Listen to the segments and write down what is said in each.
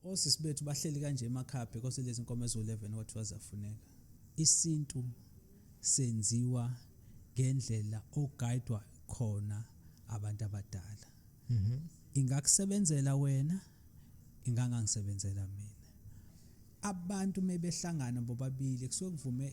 Osisi bethu bahleli kanje emakhaya because lezi nkomo eziwu-11 kwathiwa ziyafuneka. Isintu senziwa ngendlela ogayidwa khona abantu abadala. Mhm. Ingakusebenzela wena, ingangangisebenzela mina. abantu mebehlangana bobabili kusuke kuvume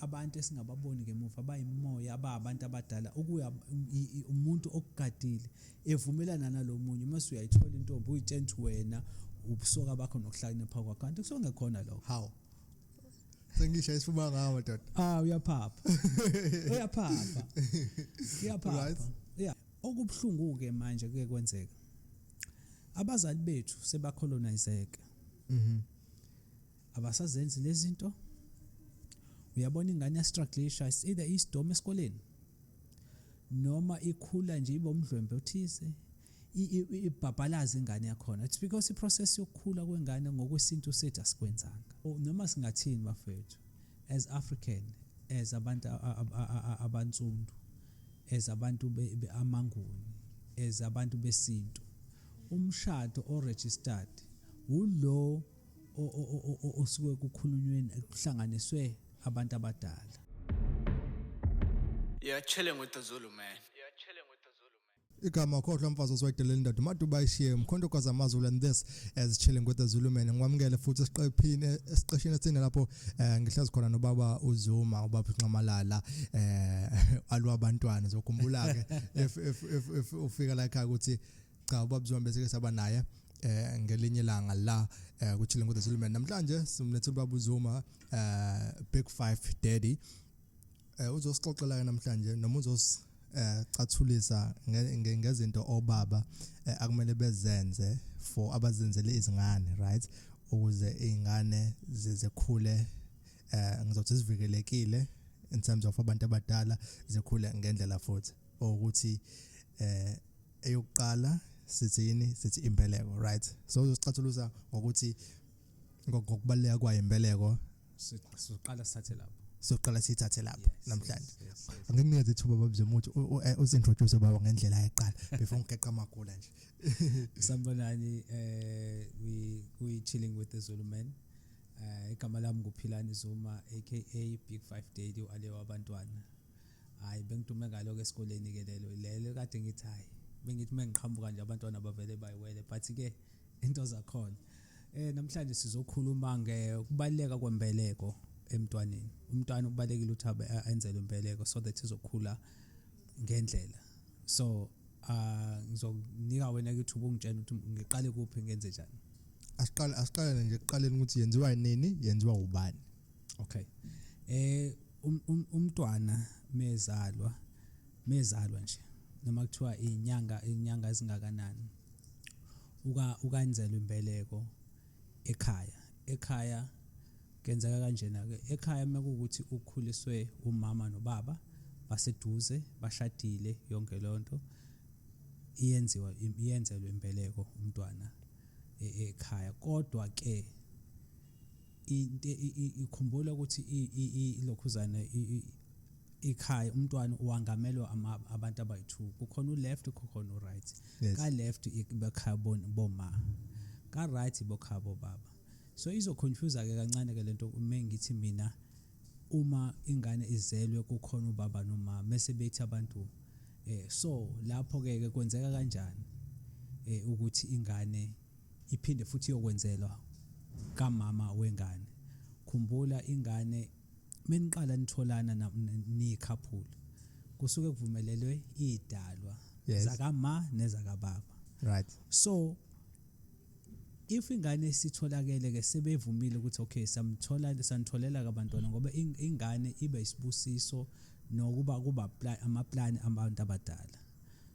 abantu esingababoni ngemuva bayimoya ababantu abadala ukuya um, umuntu okugadile evumelana nalomunye uma suyayithola intombi uyitshela ukuthi wena ubusoka bakho nokuhlakanipha kwakho kanti kusuke ngekhona lokho how sengisha isifuba ngawo dad ah uyaphapha uyaphapha uyaphapha yeah okubuhlungu ke manje kuye kwenzeka abazali bethu sebacolonizeke mhm abasazenzi lezinto uyabona ingane yastruglisha it's either isidome esikoleni noma ikhula nje ibe umdlwembe othize ibhabhalaza ingane yakhona it's because iprocess yokukhula kwengane ngokwesintu sethu asikwenzanga noma singathini bafethu as african as abantu abansundu as abantu beamanguni as abantu besintu umshado oregistered wulo osuke kukhulunywe kuhlanganiswe abantu abadala Yeah, chilling with the Zulu man. Yeah, chilling with the Zulu man. igama khohlwa mfazi osiwayidelela indoda umaduba ayishiye mkhonto kwazi amazulu and this as chilling with the zulu man ngikwamukele futhi esiqephini esiqeshini esine lapho um ngihlezi khona nobaba uzuma ubaba unxamalala um eh, alwabantwana zokhumbula-ke if, if, if, if ufika la ekhaya ukuthi cha ubaba Zwane bese ke saba naye eh ngelinye langa la eh kuchile ngoda Zuluman namhlanje simlethe ubaba uZuma eh Big 5 Daddy eh uzosixoxela namhlanje noma uzos eh cathulisa ngezinto obaba eh, akumele bezenze for abazenzele izingane right ukuze izingane zizekhule eh ngizothi sivikelekile in terms of abantu abadala zikhule ngendlela futhi ukuthi eh eyokuqala sithini sithi imbeleko right so uzosicathuluza ngokuthi ngokubaleka kwayo imbeleko siqala sithathe lapho soqala sithathe lapho namhlanje angikunikeza ithuba babze umuthi eh, usintroduce baba ngendlela eqala before ngigeqa amagula nje sambonani eh we we chilling with the Zulu man eh igama lami nguphilani Zuma aka Big 5 Daddy wale wabantwana hayi bengidume ngalo-ke esikoleni-ke lelo lelo kade ngithi hayi bengithi uma ngiqhamuka nje abantwana bavele bayiwele but-ke into zakhona um namhlanje sizokhuluma ngokubaluleka kwembeleko emntwaneni umntwana ubalekile ukuthi enzelwe imbeleko so that izokhula ngendlela so uh ngizokunika wena ke ithuba ungitshela ukuthi ngiqale kuphi ngenze njani asiqale asiqale nje kuqaleni ukuthi yenziwa nini yenziwa ubani okay eh um, um, umntwana mezalwa mezalwa nje noma kuthiwa inyanga inyanga ezingakanani uka ukanzelwa imbeleko ekhaya ekhaya kenzeka kanjena ke ekhaya mekukuthi ukhuliswe umama nobaba baseduze bashadile yonke lonto iyenziwa iyenzelwe imbeleko umntwana e, ekhaya kodwa ke into ikhumbula ukuthi ilokhuzana ikhaya umntwana uwangamelwa abantu abayi-two kukhona u-left kukhona u-right yes. ka-left bekhaya boma ka-right bokhaya bobaba so izoconfuse-ke kancane-ke le nto uma ngithi mina uma ingane izelwe kukhona ubaba nomama mese bethi abantu eh so lapho-ke ke kwenzeka kanjani eh ukuthi ingane Iphinde futhi iyokwenzelwa kamama wengane. Khumbula ingane meniqala nitholana na- n- niyikhaphula kusuke kuvumelelwe idalwa Yes. zakama nezakababa. Right. So if ingane isitholakele ke sebevumile ukuthi okay samthola sanitholela kabantwana ngoba ing- ingane iba isibusiso nokuba kuba pla- amaplan abantu abadala.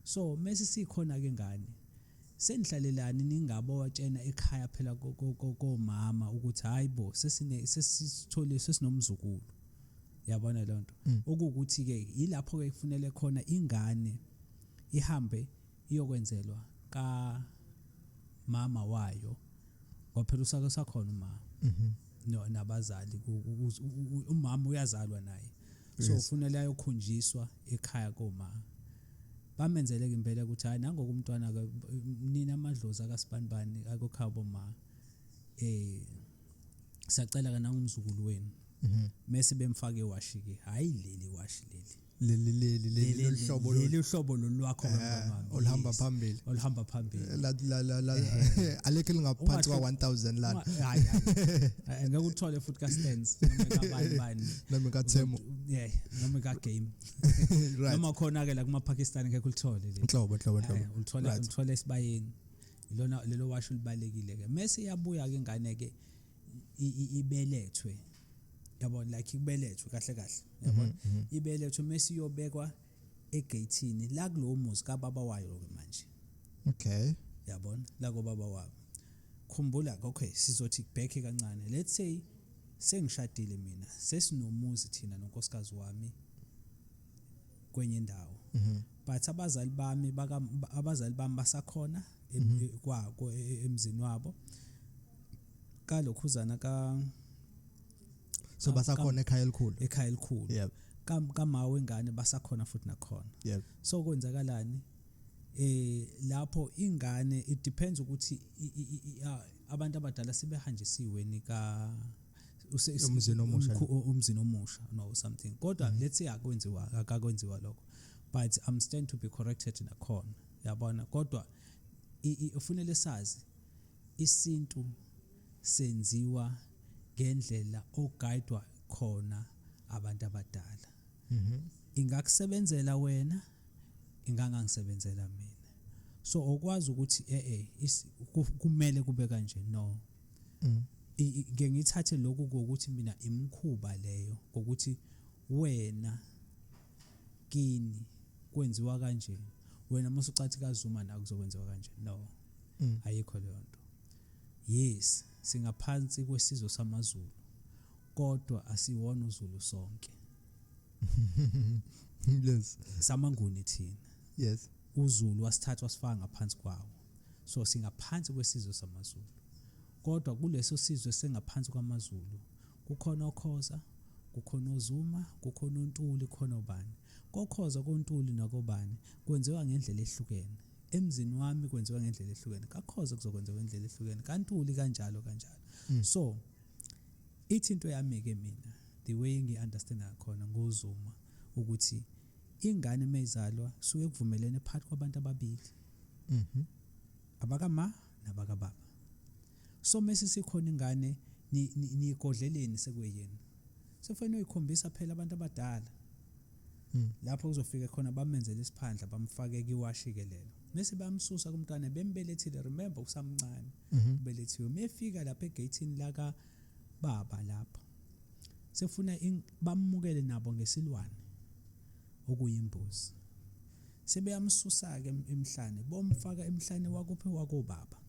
So mase sikhona ke ngane Senihlalelani ningabotshena ekhaya phela komama ukuthi hayi bo sesine sesithole sesinomzukulu. Yabona lonto. Mm. Okukuthi ke yilapho ke kufunele khona ingane ihambe iyokwenzelwa ka mama wayo ngoba phela usake sakhona uma mhm. no nabazali umama uyazalwa naye so Yes. ufunele ayokhonjiswa ekhaya koma bamenzele ke impela ukuthi hayi nangoku umntwana ke nina amadlozi akasibanibani akokhaya boma eh sacela ke nangumzukulu wenu Mhm. mese bemfake iwashi ke hayi leli washi leli leli leli leli Leli- loluhlobo lolu- leli uhlobo lolwakho Eh, kamama. oluhamba Yes. phambili. oluhamba phambili la la la la alekho elingaphansi kwa 1000 lana Uma- hayi, hayi. Eh, ngeke uthole futhi ka stands noma kabani bani nami ka Themo yeah nami ka game right noma khona ke la kuma Pakistan ngeke ulithole le inhlobo inhlobo inhlobo eh, ulithole ulithole esibayeni lona lelo washo libalekile ke Messi yabuya ke ingane ke ibelethwe yabona like ibelethwe kahle kahle yabona mhm, mhm. ibelethwe Messi yobekwa egeyithini la kulowo muzi kababa wayo-ke manje okay yabona la kobaba wabo khumbula okay sizothi kubhekhe kancane let's say sengishadile mina sesinomuzi thina nonkosikazi wami kwenye indawo mhm. but abazali bami baka abazali bami basakhona mhm. kwako e, e, emzini wabo kalokhuzana ka so basakhona ekhaya elikhulu ekhaya elikhulu yep kamawe wengane basakhona futhi nakhona yep so kwenzakalani eh lapho ingane it depends ukuthi abantu abadala sebehanjisiwe nika umzini omusha umzini omusha no something kodwa mm-hmm. let's say akwenziwa akakwenziwa lokho but i'm stand to be corrected nakhona yabona kodwa ufunele sazi Isintu senziwa ngendlela oguidwa khona abantu abadala. Mhm. Ingakusebenzela wena, ingangangisebenzela mina. So okwazi ukuthi eh eh is- ku- kumele kube kanje no. Mm. I- i- ngeke ngithathe lokhu kokuthi mina imkhuba leyo kokuthi wena kini kwenziwa kanje wena musucathi kaZuma nakuzokwenziwa kanje no Mm. ayikho leyo nto yes singaphansi kwesizwe samazulu kodwa asiwona uzulu sonke yes samanguni thina yes uzulu wasithatha wasifaka ngaphansi kwawo so singaphansi kwesizwe samazulu kodwa kuleso sizwe sengaphansi kwamazulu kukhona okhoza kukhona ozuma kukhona ontuli khona ubani kokhoza kontuli nakobani kwenziwa ngendlela ehlukene emzini wami kwenziwa ngendlela ehlukene kakhoze kuzokwenziwa ngendlela ehlukene kantuli kanjalo kanjalo mm. so ithi into yami ke mina the way ngiunderstand ngakhona ngozuma ukuthi ingane mezalwa suke kuvumelene phakathi kwabantu ababili mhm abakama nabakababa so mase sikhona ingane niyigodleleni sekuyena sekufanele uyikhombisa phela abantu abadala Hmm. lapho kuzofika khona bamenzele isiphandla bamfake kiwashi-ke lelo mese bamsusa kumntwana bembelethile remember usamncane mhm. ubelethiwe mefika lapha egeyithini laka baba lapho sefuna bamukele nabo ngesilwane okuyimbuzi sebeyamsusa-ke emhlane bomfaka emhlane wakuphi wakobaba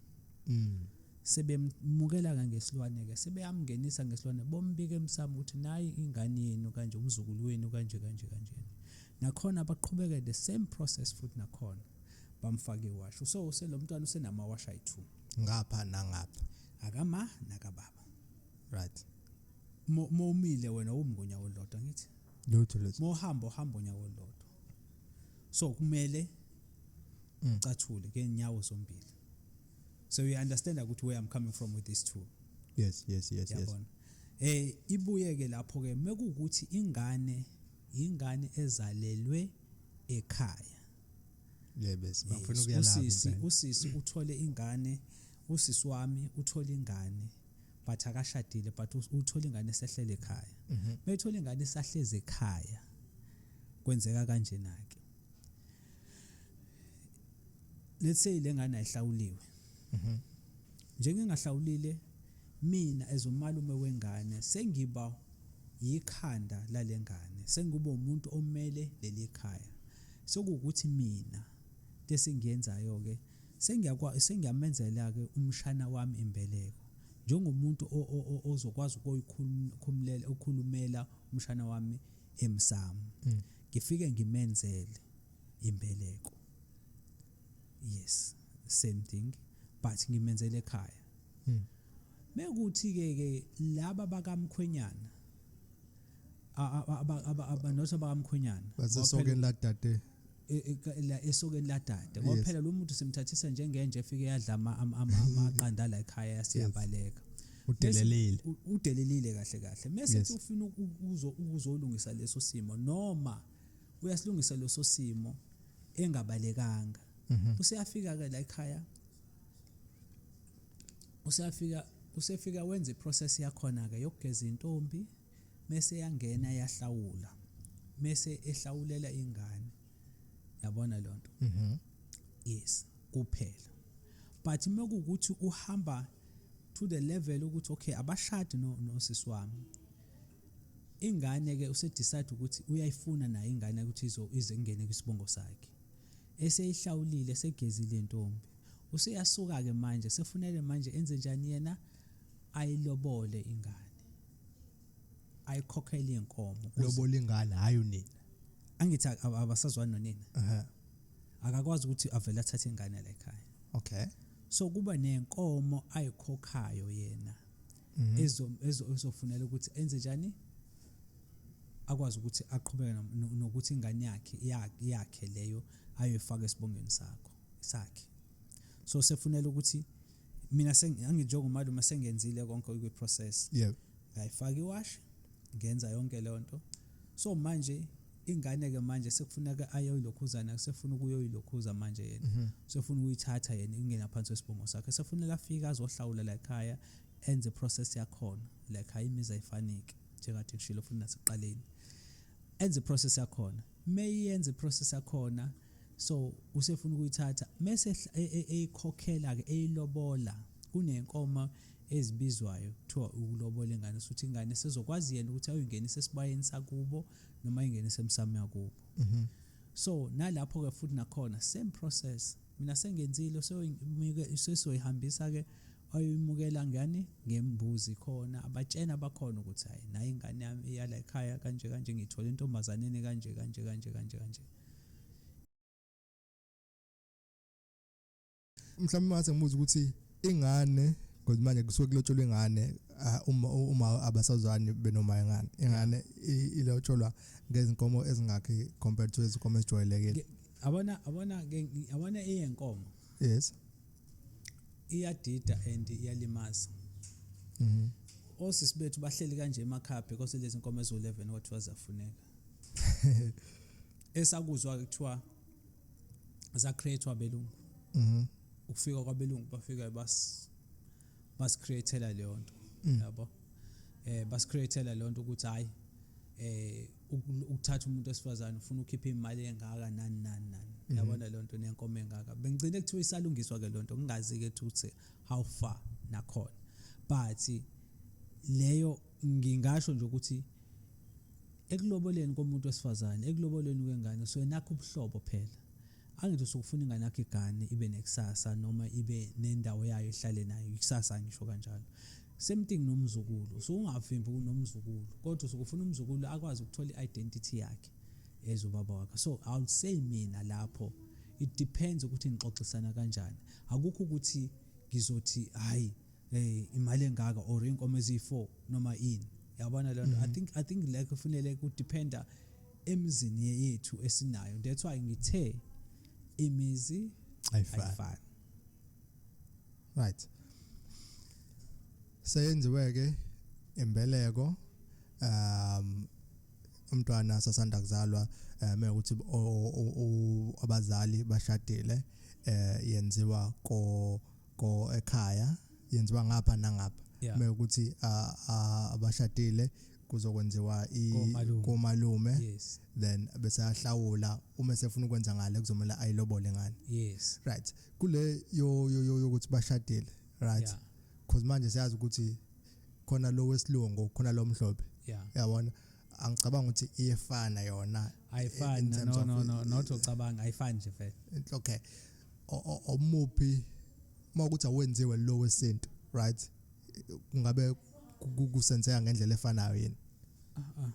mm. sebemukela-ke ngesilwane-ke sebeyamngenisa ngesilwane bombika emsamo ukuthi nayi ingane yenu kanje umzukulu wenu kanje kanje kanjena nakhona baqhubeke the same process futhi nakhona bamfake iwashi so uselo mntwana usenamawashi ayi-two ngapha nangapha akama nakababa right mowumile wena umi ngonyaka olulodwa ngithi lutho lutho mohamba ohamba onyaka olulodwa so kumele mm. ucathule ngenyawo zombili so you understand ukuthi where i'm coming from with this two yes yes yes yes eh ibuye ke lapho ke mekukuthi ingane ingane ezalelwe ekhaya yebes bafuna eh, ukuyalapha usisi usisi uthole ingane usisi wami uthole ingane but akashadile but uthole ingane esehlele ekhaya mhm. methole ingane esahleze ekhaya kwenzeka kanjena ke let's say lengane ayihlawuliwe mhm njengengahlawulile mina as umalume wengane sengiba yikhanda lalengane sengiba umuntu omele leli khaya sokukuthi mina lesengiyenzayo ke sengiyakwa sengiyamenzela ke umshana wami imbeleko njengomuntu ozokwazi ukuyikhulumela ukhulumela umshana wami emsamo mm. ngifike ngimenzele imbeleko yes same thing but ngimenzele ekhaya hmm. mekuthi ke ke laba bakamkhwenyana abanothi abakamkhwenyana basesokeni ladade e, e, la esokeni ladade ngoba phela lo muntu simthathisa njengenje efike yadla amaqanda la ekhaya yasiyabaleka udelelile udelelile kahle kahle mese ufuna ukuzolungisa leso simo noma uyasilungisa leso simo engabalekanga mhm. useyafika ke la ekhaya useyafika usefika wenza iprocess yakhona ke yokugeza intombi mese yangena yahlawula mese ehlawulela ingane yabona lonto mhm. yes kuphela but mekukuthi uhamba to the level ukuthi okay abashadi no nosisi wami Ingane ke use decide ukuthi uyayifuna naye ingane ukuthi izo ize ingene kwisibongo sakhe. Eseyihlawulile segezile intombi. Useyasuka ke manje sefunele manje enze njani yena ayilobole ingane. Ayikhokhele inkomo. Lobole ingane hayi unina. Angithi abasazwani nonina. Ehhe. Akakwazi ukuthi avele athathe ingane la ekhaya. Okay. So kuba nenkomo ayikhokhayo yena. mhm. ezofunela ukuthi enze njani akwazi ukuthi aqhubeke nokuthi ingane yakhe yakhe leyo ayoyifaka esibongweni sakho sakhe so sefunela ukuthi mina anginjengomalume sengenzile konke kwi-process yep ngayifaka iwashi ngenza yonke leyo nto so manje ingane ke manje sekufuneka ayoyilokhuzana sefuna ukuyoyilokhuza manje yena mhm. sefuna ukuyithatha yena ingena phansi wesibongo sakhe sefunela afika azohlawula la ekhaya enze process yakhona like hayi imizi ayifaniki njengathi ngishilo futhi nasekuqaleni enze process yakhona meyenze process yakhona so usefuna ukuyithatha mese e, e, eyikhokhela ke eyilobola kunenkomo ezibizwayo kuthiwa ukulobola ingane sokuthi ingane sezokwazi yena ukuthi ayingenise esibayeni sakubo noma ayingenise emsamo yakubo mhm. so nalapho ke futhi nakhona same process mina sengenziile soyihambisa ke Wayoyimukela ngani? Ngembuzi khona abatshene abakhona ukuthi hhayi nayi ingane yami iyala ekhaya kanje kanje ngiyithole entombazaneni kanje kanje kanje kanje kanje. Mhlawumbe mase ngibuza ukuthi ingane because manje kusuke kulotsholwa ingane uma uma abasazwani benoma ingane ingane ilotsholwa ngezinkomo ezingakhi compared to izinkomo ezijwayelekile abona abona abona iyenkomo yes iyadida and iyalimaza mhm osisi bethu bahleli kanje emakhaya because lezi nkomo ezo11 kwathiwa zafuneka esakuzwa kuthiwa za createwa belungu mhm ukufika kwabelungu bafika bas basicreatela leyo nto mm. yabo eh basicreatela leyo nto ukuthi hayi eh ukuthatha umuntu wesifazane ufuna ukhipha imali engaka nani nani nani mhm. yabona leyo nto nenkomo engaka bengigcine kuthiwa isalungiswa ke leyo nto ngingazi ke ukuthi how far nakhona but leyo ngingasho nje ukuthi ekuloboleni komuntu wesifazane ekuloboleni kwengane so nakho ubuhlobo phela Angithi usuke ufuna ingane yakho igane ibe nekusasa noma ibe nendawo yayo ehlale nayo ikusasa ngisho kanjalo. Same thing nomzukulu. Usuke ungavimbi kunomzukulu kodwa usuke ufuna umzukulu akwazi ukuthola i-identity yakhe as ubaba wakhe. So I would say mina lapho it depends ukuthi nixoxisana kanjani. Akukho ukuthi ngizothi hayi eh imali engaka or inkomo eziyi4 noma ini yabona lento i mm-hmm. think i think like kufanele ku dependa emizini yethu esinayo that's why ngithe imizi ayifani right seyenziwe ke imbeleko um umntwana sasanda kuzalwa eh, uma ukuthi abazali bashadile eh, yenziwa ko ko ekhaya yenziwa ngapha nangapha uma ukuthi abashadile kuzokwenziwa Komalume. komalume yes then bese ahlawula uma sefuna ukwenza ngale kuzomela ayilobole ngani yes right kule yo yo- yo- yokuthi bashadile right Yeah. cause manje siyazi ukuthi khona lo wesilungu khona lo mhlophe yeah yabona angicabanga ukuthi iyefana yona in ayifani terms no of- no no not ucabanga ayifani nje vele Intle- okay O- o- omuphi uma ukuthi awenziwe lo wesintu right kungabe kusenzeka ngendlela efanayo yini uh, uh.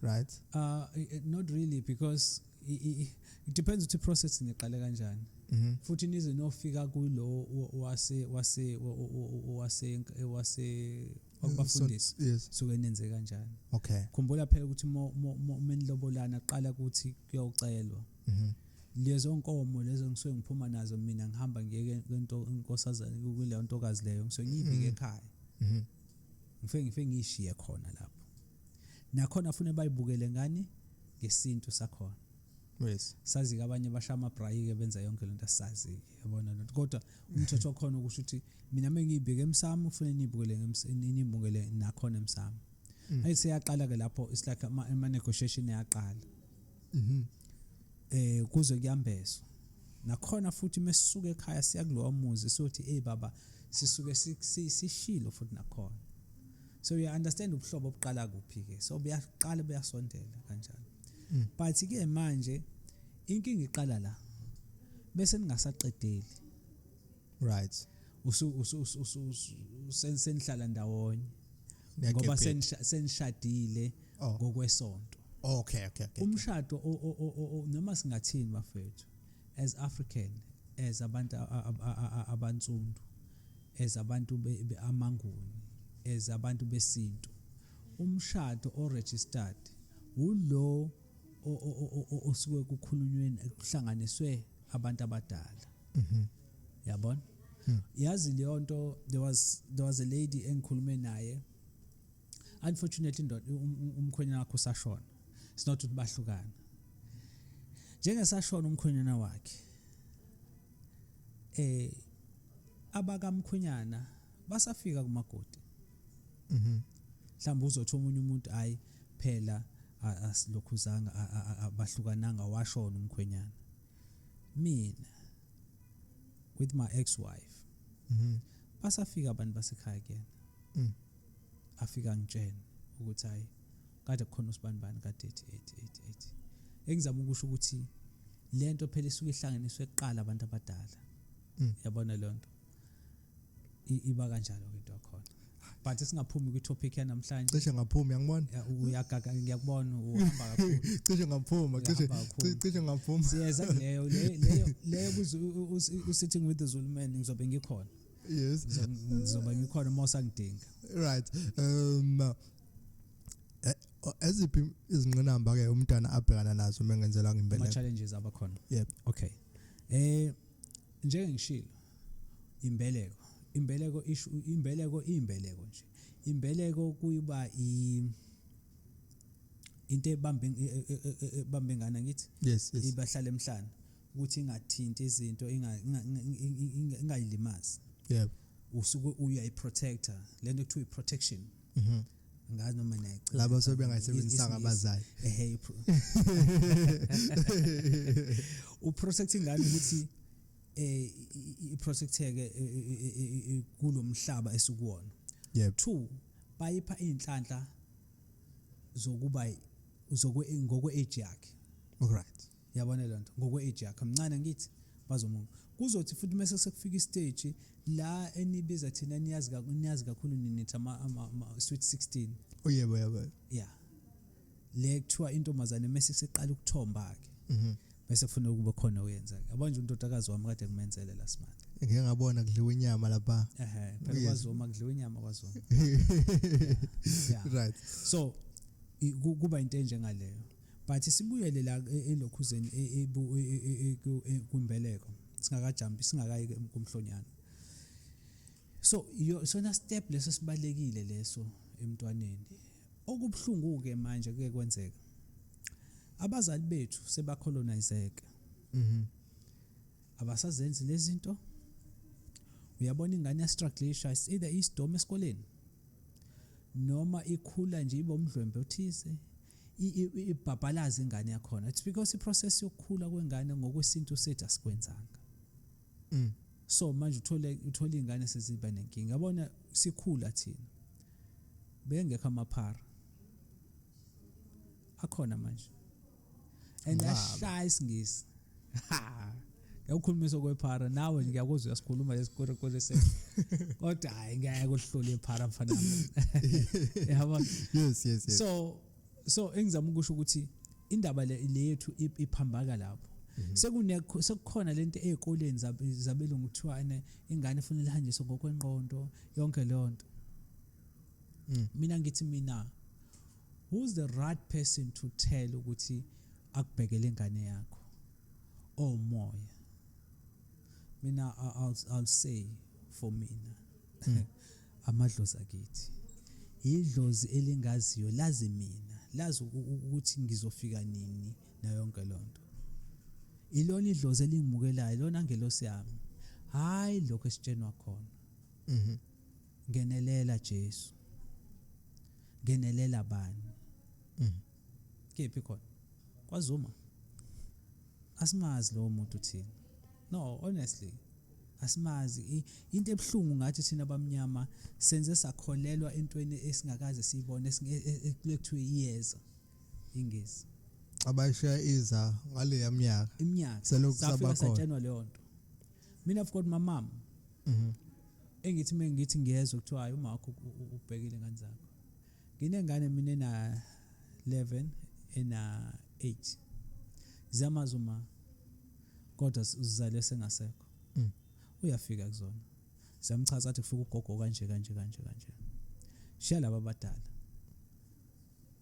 right uh not really because it depends ukuthi process niqale kanjani mhm. futhi nize nofika kulo wase wase wase wase okubafundisa suke nenze kanjani okay khumbula phela ukuthi uma nilobolana qala ukuthi kuyocelwa mhm. lezo nkomo lezo ngisuke ngiphuma nazo mina ngihamba ngiye kwento inkosazana kuleyo ntokazi leyo ngisuke ngiyibike mhm. ekhaya mhm. ngifike ngifike ngiyishiye khona lapho nakhona fune bayibukele ngani ngesintu sakhona yes sazi ke abanye basha ama brayi ke benza yonke lento asazi ke yabona lento kodwa umthetho okhona ukusho ukuthi mina mengibheke emsamo ufune nibukele nibukele nakhona emsamo mm. ayiseyaqala ke lapho isilakha ama negotiation yaqala mhm eh kuze kuyambezwa nakhona futhi mesisuka ekhaya siya kulowa muzi sothi hey baba sisuke sishilo futhi nakhona so you understand ubuhlobo obuqala kuphi ke so buyaqala buyasondela kanjalo mm. but ke manje inkinga iqala la bese ningasaqedeli right usu usu usu usenihlala ndawonye ngoba senishadile oh. ngokwesonto okay okay okay umshado noma singathini bafethu as african as abantu abantsundu as abantu amanguni as abantu besintu umshado o registered ulo osuke kukhulunywe kuhlanganiswe abantu abadala mhm. yabona hmm. yazi leyo nto there was there was a lady engikhulume naye unfortunately indoda um, um, umkhwenyana wakhe usashona it's not ukuthi bahlukana njengesashona umkhwenyana wakhe eh abakamkhwenyana basafika kumagodi mhm mhlawumbe uzothi omunye umuntu hayi phela asilokhuzanga abahlukananga washona umkhwenyana mina with my ex wife mm -hmm. basafika abantu basekhaya kuyena mm. afika ngitshene ukuthi hayi kade kukhona usibanibani kade ethi ethi ethi ethi engizama ukusho ukuthi lento phela isuke ihlanganiswe kuqala abantu abadala mm. yabona lento iba kanjalo ke into yakhona but singaphumi kwi-topic yanamhlanje cishe ngaphumi yangibona uyagaga ngiyakubona uhamba kakhulu cishe ngaphuma cishe cishe ngaphuma siyeza leyo leyo leyo usitting with the Zulu man ngizobe ngikhona yes ngizobe ngikhona uma usangidinga right um eh, eziphi izinqinamba ke umntana abhekana nazo mengenzelanga impela ama challenges abakhona yep okay eh njengengishilo imbeleko imbeleko isho imbeleko imbeleko nje imbeleko kuyiba i into ebambe e, e, e, ebambe ngana ngithi yes, yes. ibahlala emhlana ukuthi ingathinti izinto ingayilimazi yebo usuke uyayiprotector lento kuthiwa iprotection mhm ngazi noma nayicela labo sebengayisebenzisa ngabazali ehe uprotect ingane ukuthi eh iprotecteke eh, eh, eh, kulomhlaba esikuwona yep two bayipha inhlanhla zokuba zokwe ngokwe age yakhe right yabona lento ngokwe age yakhe mncane ngithi bazomunga kuzothi futhi mase sekufika istage la enibiza thina niyazi kakhulu niyazi kakhulu ninithi ama sweet 16 oyebo yabo yeah le kuthiwa intombazane mese seqala ukuthomba ke mhm. bese kufuna ukuba khona uyenza ke abanje untotakazi wami kade kumenzele last month ngeke ngabona kudliwa inyama lapha ehe phela kwazoma kudliwa inyama kwazoma right so kuba into enje ngaleyo but sibuyele la e, elokhuzeni e, e, kumbeleko singakajampi singakayi kumhlonyana so yo sona step leso sibalekile leso emntwaneni okubuhlungu ke manje kuke kwenzeka abazali bethu sebacolonizeke mhm abasazenzi lezinto uyabona ingane ya struggle isha either isdome esikoleni noma ikhula nje ibe umdlwembe othize ibhabhalaza ingane yakhona it's because iprocess yokukhula kwengane ngokwesintu sethu asikwenzanga mm. so manje uthole uthola iy'ngane seziba nenkinga yabona sikhula thina bengekho amaphara akhona manje and ashaya isingisi yakukhulumisa kwephara nawe nje ngiyakuzwa uyasikhuluma lesikwerekwere se kodwa hayi ngeke uhlule iphara mfana yabo yes yes yes so so engizama ukusho ukuthi indaba le yethu iphambaka lapho mhm. sekune sekukhona lento ezikoleni zabelungu kuthiwane ingane ifuna lihanjiswe ngokwenqondo yonke leyo nto mm. mina ngithi mina who's the right person to tell ukuthi akubhekele ingane yakho oh moya mina I'll, I'll say for mina mm. Amadlozi akithi. Yidlozi elingaziyo lazi mina, lazi ukuthi ngizofika nini nayonke lonto. Ilona idlozi elingimukelayo, ilona ngelosi yami. Hayi lokho esitshenwa khona. Mhm. Ngenelela Jesu. Ngenelela bani? Mhm. Kephi khona? KwaZuma. Asimazi lowo muntu uthini. No, honestly. Asimazi into ebuhlungu ngathi thina abamnyama senze sakholelwa entweni esingakaze siyibone ekulekuthiwe e, e, iyeza. Ingezi. Abayishiya iza ngaleya minyaka. Iminyaka. Selokhu sabakhona. Satshenwa leyo nto. Mina of course mamama. Mhm. Engithi mengithi ngiyezwa kuthiwa umakho ubhekile ngane zakho. Nginengane mina ena 11 ena 8. Ziyamazi uma kodwa uzizale sengasekho. Mm. Uyafika kuzona. Ziyamchaza athi kufika ugogo kanje kanje kanje kanje. Shiya laba abadala.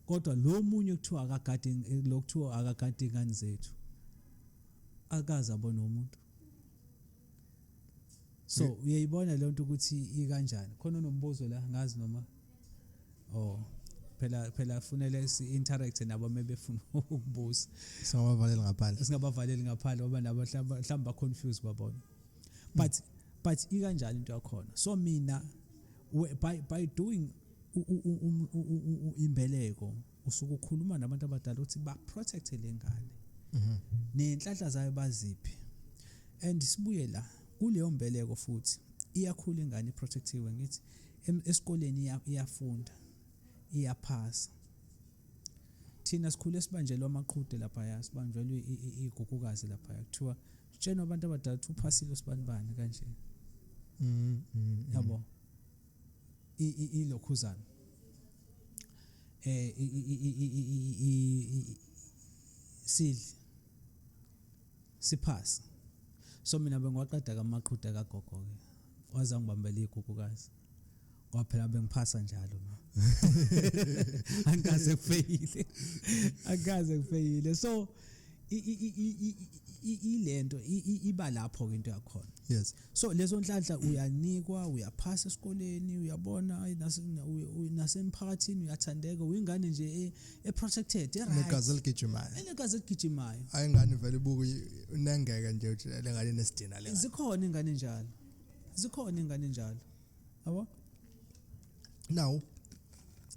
Kodwa lo munye kuthiwa akagadi lokuthiwa akagadi ingane zethu. Akaza bona umuntu. so uyayibona lento ukuthi ikanjani khona nombuzo la ngazi noma oh phela phela kufanele si-interact nabo uma befuna ukubuza singabavaleli ngaphandle singabavaleli ngaphandle ngoba nabo mhlawumbe ba-confuse babona but mm. but ikanjani into yakhona so mina by, by doing imbeleko usuke ukhuluma nabantu abadala ukuthi ba-protecte le ngane mhm. nenhlanhla zayo baziphi and sibuye la kuleyo mbeleko futhi iyakhula ingane iprotectiwe ngithi esikoleni iyafunda iyaphasa thina sikhule sibanjelwa amaqhude laphaya sibanjelwe igugukazi laphaya kuthiwa sitshenwa abantu abadala ukuthi uphasile usibanibani kanje mm, mm, mm. yabo ilokhuzana eh sidle Siphasi. So mina bengiwaqeda kamaqhude kagogo ke. Waze angibambela igugukazi. Kwaphela bengiphasa njalo ma. Angikaze kufeyile. Angikaze kufeyile. So ilento iba lapho ke into yakhona. Yes. so lezo nhlanhla uyanikwa uyaphasa esikoleni uyabona ayi nase- na- uye- uye- nasemphakathini uyathandeka uyingane nje e- e-protected e-right. negazi eligijimayo enegazi eligijimayo hayi ingane vele ibuku unengeke nje uthi le ngane nesidina le ngane. zikhona ingane njalo zikhona ingane njalo yabo now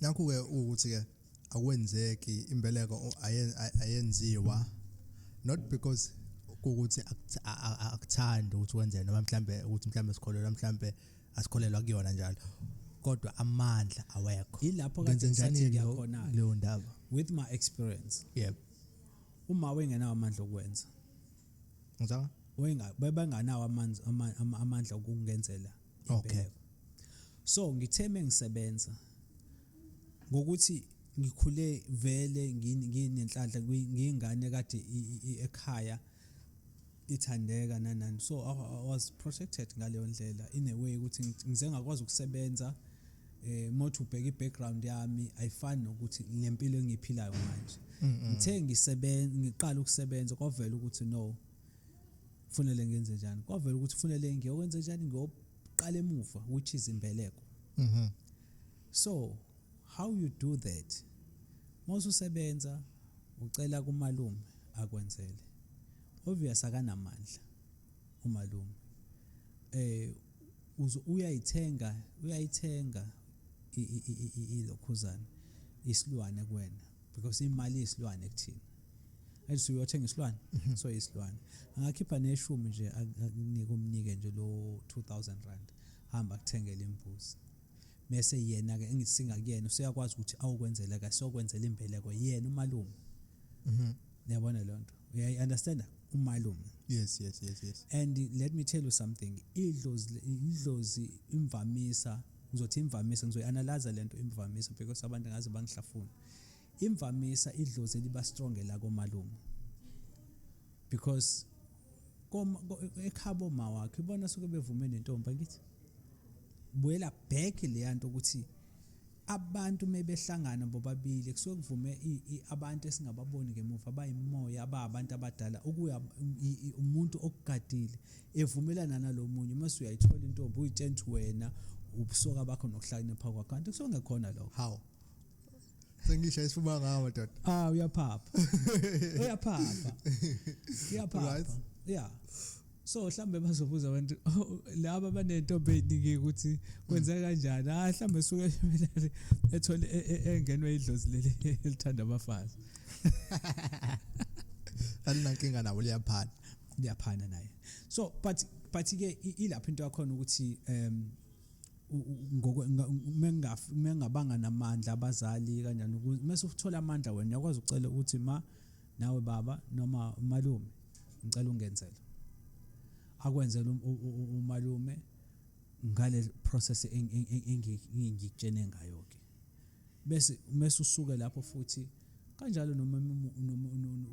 nakhu-ke ukuthi-ke akwenzeki imbeleko ayenziwa not because ukuthi akuthandi ukuthi wenzeke noma mhlambe ukuthi mhlambe sikholelwa mhlambe asikholelwa kuyona njalo kodwa amandla awekho ilapho kade ngisathi khona leyo ndaba with my experience yep uma wengenawo amandla okwenza ngizwa wayenganawo amandla okungenzela okay so ngithe mengisebenza ngokuthi ngikhule vele nginenhlanhla ngiyingane kade ekhaya ithandeka nanani so I, I was protected ngaleyo ndlela in a way ukuthi ngize ngakwazi ukusebenza eh mothi ubheka ibackground yami ayifani nokuthi ngempilo engiphilayo manje ngithe ngisebenza ngiqala ukusebenza kwavela ukuthi no kufanele ngenze njani kwavela ukuthi kufanele ngiyokwenze njani ngiyoqala emuva which is imbeleko mhm so how you do that mawususebenza ucela kumalume akwenzele obvious akanamandla umalume eh uyayithenga uyayithenga ilokhuzana isilwane kuwena because imali isilwane kuthina athi uyothenga isilwane mhm. so isilwane angakhipha neshumi nje akunike umnike nje lo 2000 rand hamba kuthengele imbuzi mese yena ke engisinga kuyena useyakwazi ukuthi awukwenzela ka sokwenzela imbeleko yena umalume mhm yabona lonto uyayi understand umalume yes yes yes yes and let me tell you something idlozi idlozi imvamisa ngizothi imvamisa ngizoyianalyze lento imvamisa because abantu ngaze bangihlafuna imvamisa idlozi liba strong elakomalume because ekhabo ma wakhe ibona suke bevume nentombi ngithi buyela back leya nto ukuthi abantu mebehlangana bobabili kusuke kuvume abantu esingababoni ngemuva abayimoya ababantu abadala ukuya umuntu okugadile evumelana nalomunye uma usuyayithola intombi uyitshela ukuthi wena ubusoka bakho nokuhlakanipha kwakho kanti kusuke ngekhona lokho how sengisha isifuba ngawo madoda ah uyaphapha uyaphapha uyaphapha right yeah so mhlambe bazobuza abantu oh, laba banentombi eziningi ukuthi kwenza kanjani ah mhlambe suke emelele ethole e, e, engenwe idlozi leli elithanda abafazi alinankinga nabo liyaphana liyaphana naye so but but ke ilapha into yakhona ukuthi um mengingabanga namandla abazali kanjani ukuze mese uthola amandla wena uyakwazi ukucela ukuthi ma nawe baba noma umalume ngicela ungenzele akwenzele um, umalume ngale process engikutshene ngayo ke bese mese usuke lapho futhi kanjalo noma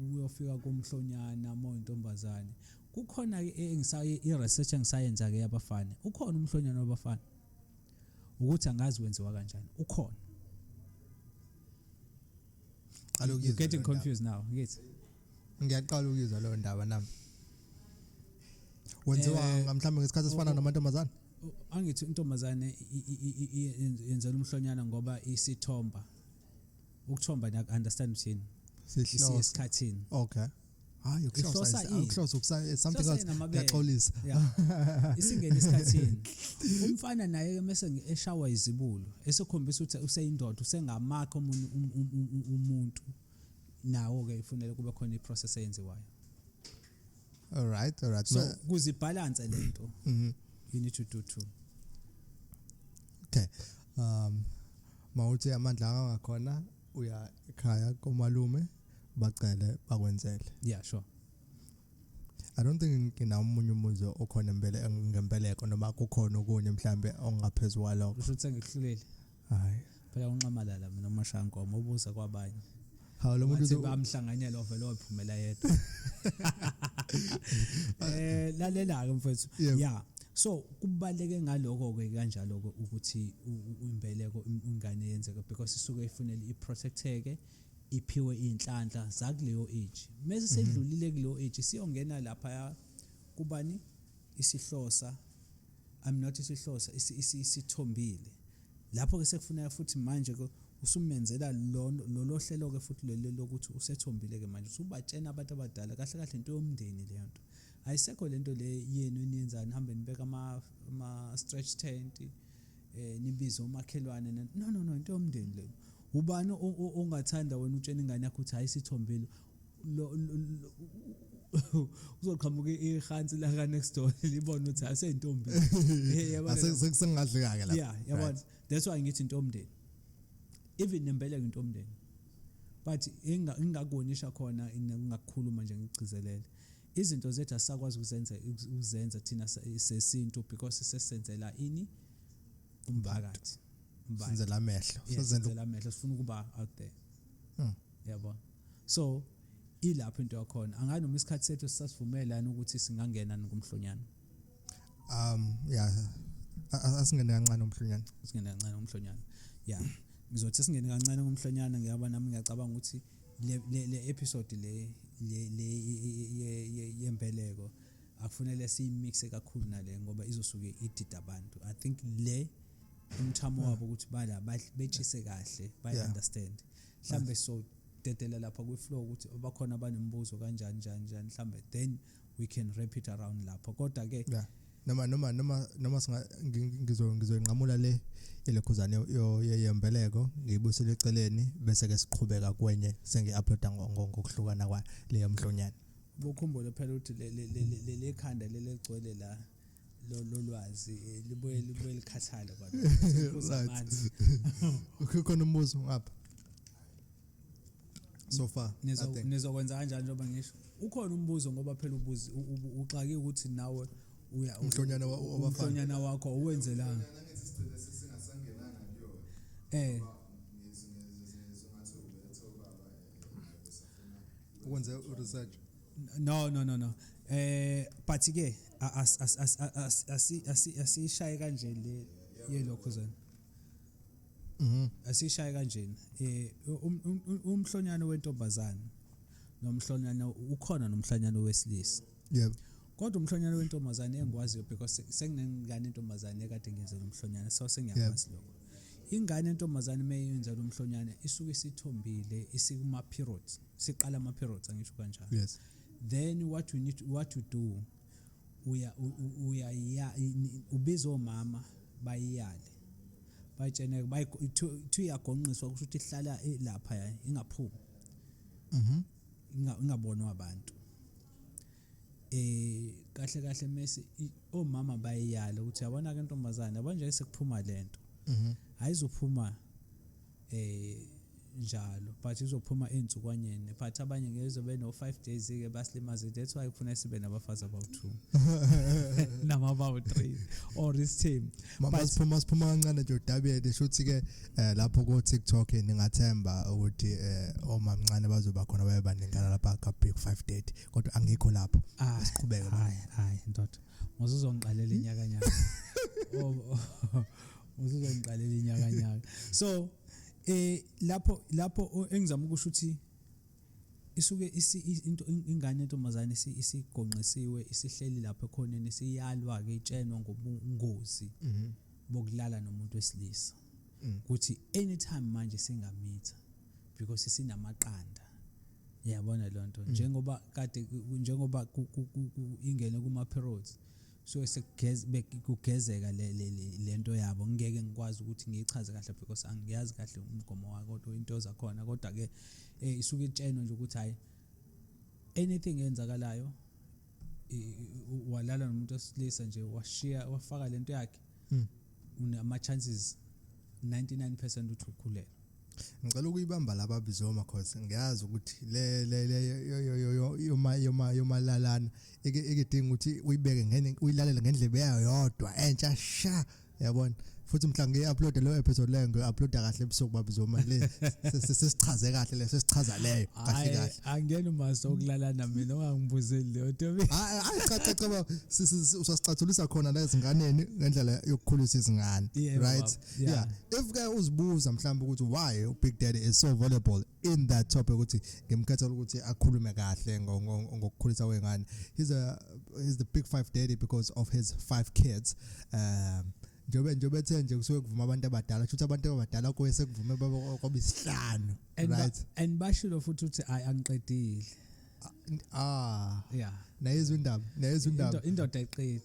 uyofika komhlonyana uma uyintombazane kukhona ke eh, engisaye i-research engisayenza ke yabafana ukhona umhlonyana wabafana ukuthi angazi wenziwa kanjani ukhona qala ukuyizwa getting confused now ngithi ngiyaqala ukuyizwa leyo ndaba nami wenziwa eh, mhlawumbe ngesikhathi esifana namantombazane angithi intombazane yenzela umhlonyana ngoba isithomba ukuthomba ngiya understand mthini sihloko isikhathini okay hayi ukuhlosa ukuhlosa ukusa something else ngiyaxolisa isingena isikhathini umfana naye mase eshawa izibulo esekhombisa ukuthi useyindoda usengamakho umuntu um, um, um, umuntu nawo ke ifunele kube khona iprocess eyenziwayo all right all right so kuzibalance lento mhm. you need to do too okay um mawuthi amandla angakhona uya ekhaya komalume bacele bakwenzele yeah sure I don't think ngina umunye umuzi okhona impela ngempeleko noma kukhona okunye mhlambe ongaphezulu kwalokho usho ukuthi ngihlulile hayi phela unxamalala mina umashankomo ubuza kwabanye hawu lo muntu bamhlanganyela ovele ophumela yedwa eh lalela ke mfethu yeah so kubaleke ngaloko ke kanjalo ukuthi impeleko ingane yenzeka because isuke ifunela iprotecteke iphiwe iy'nhlanhla zakuleyo age mese mhm. sedlulile kuleyo age siyongena laphaya kubani isihlosa i'm not isihlosa isithombile lapho ke sekufuneka futhi manje ke usumenzela lolo hlelo ke futhi lelo lokuthi usethombile ke manje usubatshena abantu abadala kahle kahle into yomndeni leyo nto ayisekho lento le yenu eniyenzani hambe nibeka ama ama stretch tent eh nibize umakhelwane no no no into yomndeni leyo ubani ongathanda wena utshena ingane yakho ukuthi hayi sithombile uzoqhamuka ihansi la ka next door libona ukuthi aseyintombi asekungadli kake la yeah yabona that's why ngithi intomdeni even nembeleko intomdeni but ingakuwonisha khona ingakukhuluma nje ngigcizelele izinto zethu asakwazi ukuzenza ukuzenza thina sesintu because sesenzela ini umphakathi senzela amehlo senzela amehlo sifuna ukuba out there hmm. yabo so ilapho into yakhona angazi noma isikhathi sethu sisasivumelana ukuthi singangena ngomhlonyana um yeah asingene kancane umhlonyana singene kancane umhlonyana yeah ngizothi singene kancane umhlonyana ngiyaba nami ngiyacabanga ukuthi le le episode le le yembeleko akufanele siyimixe kakhulu nale ngoba izosuke idida abantu i think le umthamo wabo ukuthi bala betshise kahle bayi understand mhlambe so dedela lapha kwi flow ukuthi abakhona abanembuzo kanjani njani njani mhlambe then we can wrap it around lapho kodwa ke yeah. noma noma noma noma singa ngizo ngizoyinqamula le elekhuzane yembeleko ngiyibusele eceleni bese ke siqhubeka kwenye sengi uploada ngokuhlukana kwa leyo mhlonyana bokhumbule phela ukuthi le le le le khanda lelegcwele la lolu lwazi eh, libuye libuye likhathale kwakhona umbuzo ngapha so far nizokwenza kanjani njengoba ngisho ukhona umbuzo ngoba phela ubuzi uxake ukuthi nawe uya umhlonyana wabafana wakho owenzelanga eh ukwenza research no no no no eh but ke as as as as as asishaye kanje le yelokho zana mhm asishaye kanje eh um, um, um, umhlonyane wentombazana nomhlonyane ukhona nomhlonyane wesilisa yebo kodwa umhlonyane wentombazane engikwaziyo because senginengane intombazane ekade ngiyenzela umhlonyane so sengiyakwazi lokho ingane entombazane uma yenza lo mhlonyane isuke isithombile isikuma-periods siqala ama periods angisho kanjalo yes then what we need what to do uya uya ya ubiza omama bayiyale bayitshene bayi two yagonqiswa kusho ukuthi ihlala e, lapha ya ingaphumi mhm ingabonwa abantu eh kahle kahle mase omama bayiyala ukuthi yabona ke ntombazane yabona nje sekuphuma lento mhm ayizophuma eh njalo but izophuma ensukwanyeni but abanye ngeke beno 5 days ke basilimaze that's why kufuna sibe nabafazi about 2 nama about 3 or this team mama siphuma siphuma kancane nje udabiyede shuthi ke eh, lapho ku TikTok ningathemba ukuthi eh, omamncane bazoba khona baye baningana lapha ka big 530 kodwa angikho lapho ah, siqhubeke hayi hayi ndoda ngizozongiqalela inyaka nyaka uzizongiqalela inyakanyaka so eh lapho lapho engizama ukusho ukuthi isuke into ingane entombazane isigonqisiwe isihleli lapho ekhoneni siyalwa ke itshenwa ngobungozi mhm. bokulala nomuntu wesilisa mm. ukuthi anytime manje singamitha because sinamaqanda yabona lonto mm. njengoba kade njengoba ingene kuma periods so kugezeka lento yabo ngeke ngikwazi ukuthi ngiyichaze kahle because angiyazi kahle umgomo wako kodwa into zakhona kodwa ke eh, isuke itsheno nje ukuthi hayi anything eyenzakalayo walala nomuntu osilisa nje washiya wafaka lento yakhe mm. unama chances 99% ukuthi ukhulele ngicela ukuyibamba laba bizoma cause ngiyazi ukuthi le le yoma yoma yomalalana ekidinga ukuthi uyibeke ngene uyilalele ngendlebe yayo yodwa entsha sha yabona futhi mhla ngiyi-uploade leyo episode leyo ngiyi-uploada kahle ebusuku babizoma le sesichaze kahle leyo sesichaza leyo kahle kahle angiyena umaso okulalana mina ongangibuzeli leyo tobi hayi cha cha cha usasicathulisa khona la ezinganeni ngendlela yokukhulisa izingane right yeah if ke uzibuza mhlawumbe ukuthi why u big daddy is so valuable in that topic ukuthi ngimkhetha ukuthi akhulume kahle ngokukhulisa wengane he's a he's the big five daddy because of his five kids um njengoba njengoba ethe nje kusuke kuvuma abantu abadala kusho ukuthi abantu abadala kuye sekuvuma baba kwabisihlanu and ba- Right. and bashilo futhi ukuthi hayi angiqedile ah yeah nayezwa indaba nayezwa indaba Indo- indoda eqedi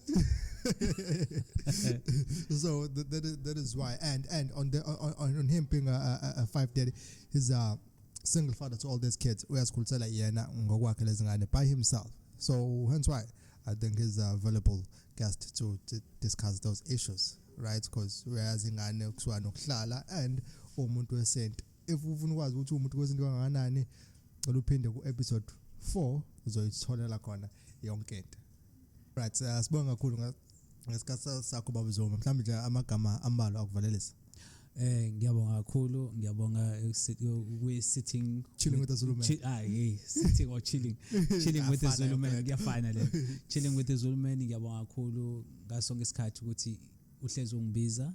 so th- that is, that is why and and on the on, on, on him being a, a, a five daddy he's a single father to all these kids uyazikhulisela yena ngokwakhe lezingane by himself so hence why i think he's a valuable guest to, to discuss those issues right because uyazi ingane kuthiwa nokuhlala and umuntu wesenti if ufuna ukwazi ukuthi umuntu kwesintu kangakanani cela uphinde ku-episode four uzoyitholela khona yonke into right uh, sibonge kakhulu ngesikhathi sakho baba zoma mhlawumbe nje amagama ambalwa akuvalelisa Eh ngiyabonga kakhulu ngiyabonga we sitting chilling with the Zulu man. Ah hey sitting or chilling chilling with the Zulu man ngiyafana le chilling with the Zulu man ngiyabonga kakhulu ngaso ngesikhathi ukuthi uhlezi ungibiza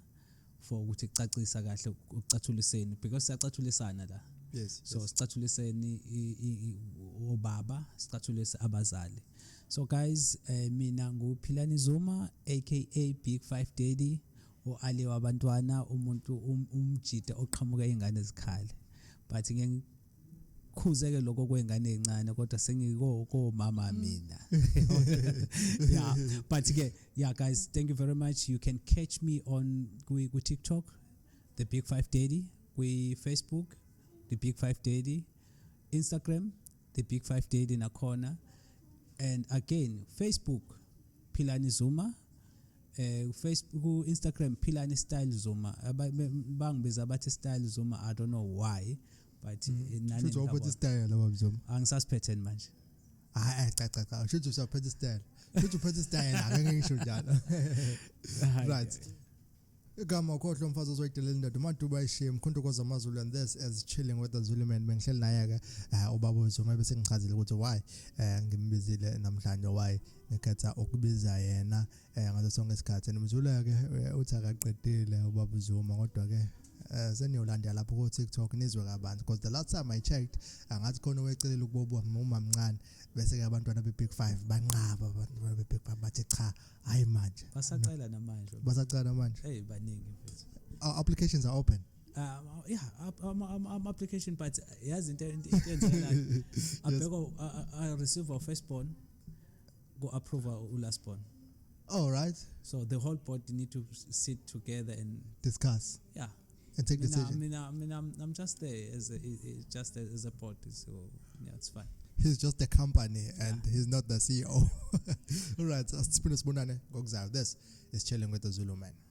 for ukuthi kucacisa kahle ukucathuliseni because siyacathulisana la yes so yes. sicathuliseni obaba sicathulise abazali so guys eh, mina nguphilani zuma aka big 5 daddy oali wabantwana umuntu um, umjita oqhamuka ingane zikhale but ngeke khuze ke lokho kwengane ezincane kodwa sengiko komama mm. mina yeah but ke yeah guys thank you very much you can catch me on kwi ku TikTok the big 5 daddy kwi Facebook the big 5 daddy Instagram the big 5 daddy nakhona and again Facebook Philani Zuma eh Facebook ku Instagram philani style zuma bangibiza bathi style zuma i don't know why but mm. eh, nani futhi waphethe style laba mzoma angisasiphethe manje hayi cha cha cha futhi usaphethe style futhi uphethe style akake ngisho njalo right igama khohlwa umfazi ozoyidelela indoda umaduba ayishiye mkhonto kwazamazulu and this as chilling with the zulu man bengihleli naye-ke eh, ubaba wezuma bese ngichazile ukuthi why um ngimbizile namhlanje why ekhetha ukubiza yena eh, ngaso sonke isikhathi nomzula ke eh, uthi akaqedile ubaba Zuma kodwa ke eh, seniyolanda lapho ku TikTok nizwe kabanzi because the last time I checked angathi khona owecelile ukubobo uma mncane bese ke abantwana be big 5 banqaba abantwana be big 5 bathi cha hayi manje basacela namanje basacela namanje hey baningi mfethu our applications are open uh, yeah ama um, um, application but yazi into into enzeka abheka a receiver firstborn ku-approva u-last born all right so the whole board need to sit together and discuss yeah and take mina, decision mina, I mean, I'm, I'm just there as a, just as a board so yeah it's fine he's just a company yeah. and he's not the ceo all right asiphinda sibonane ngokuzayo this is chilling with the zulu man